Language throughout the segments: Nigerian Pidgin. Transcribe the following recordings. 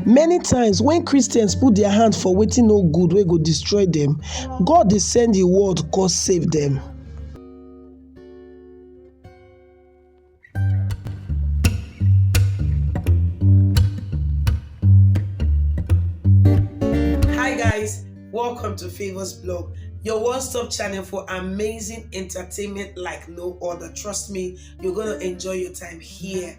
Many times when Christians put their hand for wetin no good wey go destroy them, God dey send him word come save them. Hi guys, welcome to Favors Blog, your one-stop channel for amazing entertainment like no other. Trust me, you're gonna enjoy your time here.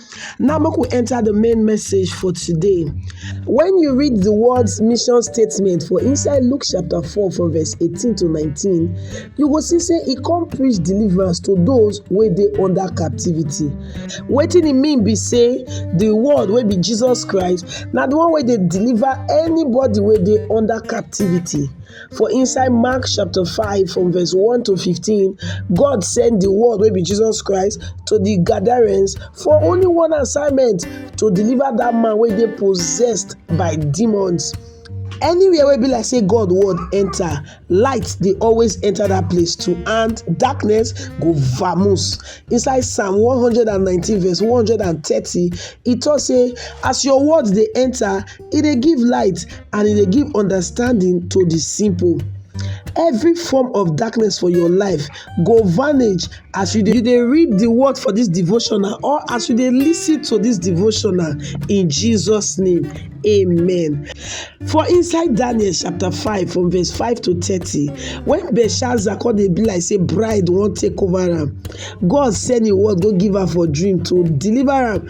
Now make we enter the main message for today. When you read the words mission statement for inside Luke chapter 4 from verse 18 to 19, you go see say e come preach deliverance to those wey dey under captivity. Wetin e mean be say the word wey be Jesus Christ na the one wey dey deliver anybody wey dey under captivity. For inside Mark chapter 5 from verse 1 to 15, God sent the word wey be Jesus Christ to the Gadarenes for only one assignment to deliver that man wey dey possessed by demons. Anywhere wey be like say God word enter, light dey always enter that place too and darkness go vamoose. Inside Psalm 119 verse 130, e talk say as your word dey enter, e dey give light and e dey give understanding to the simple. Every form of darkness for your life go vanish as you dey you dey read the word for this devotional or as you dey listen to this devotional in Jesus name. Amen. For inside Daniel chapter 5 from verse 5 to 30, when Belshazzar come dey be like say bride wan take over am, God send him word go give am for dream to deliver am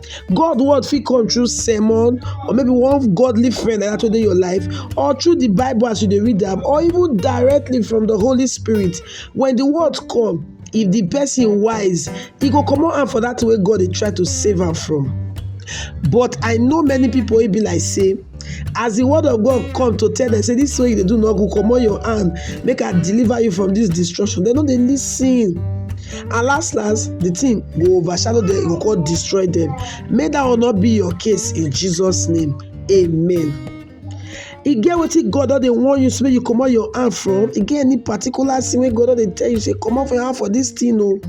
God word fit come through sermon or maybe one godly friend like that wey dey your life or through the Bible as you dey read am or even directly from the Holy Spirit. When the word come, if the person wise, e go comot hand for that thing wey God dey try to save am from. But I know many people wey be like say as the word of god come to tell them say this way you dey do no good comot your hand make i deliver you from this destruction dem no dey lis ten and last last the thing go overshadow them e go come destroy them may that one not be your case in jesus name amen. e get wetin god don dey warn you say make you comot your hand from e get any particular thing wey god don dey tell you say comot for your hand for this thing o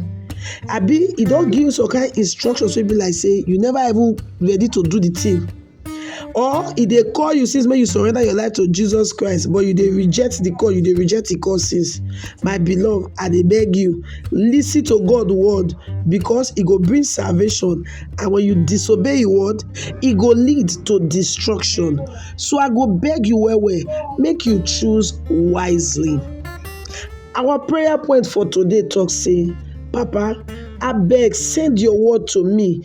abi e don give you some kind instructions wey be like say you never even ready to do the thing or e dey call you since make you surrender your life to jesus christ but you dey reject the call you dey reject the call since my beloved i dey beg you lis ten to god word because e go bring salvation and when you disobey him word e go lead to destruction so i go beg you well well make you choose wisely our prayer point for today talk say papa abeg send your word to me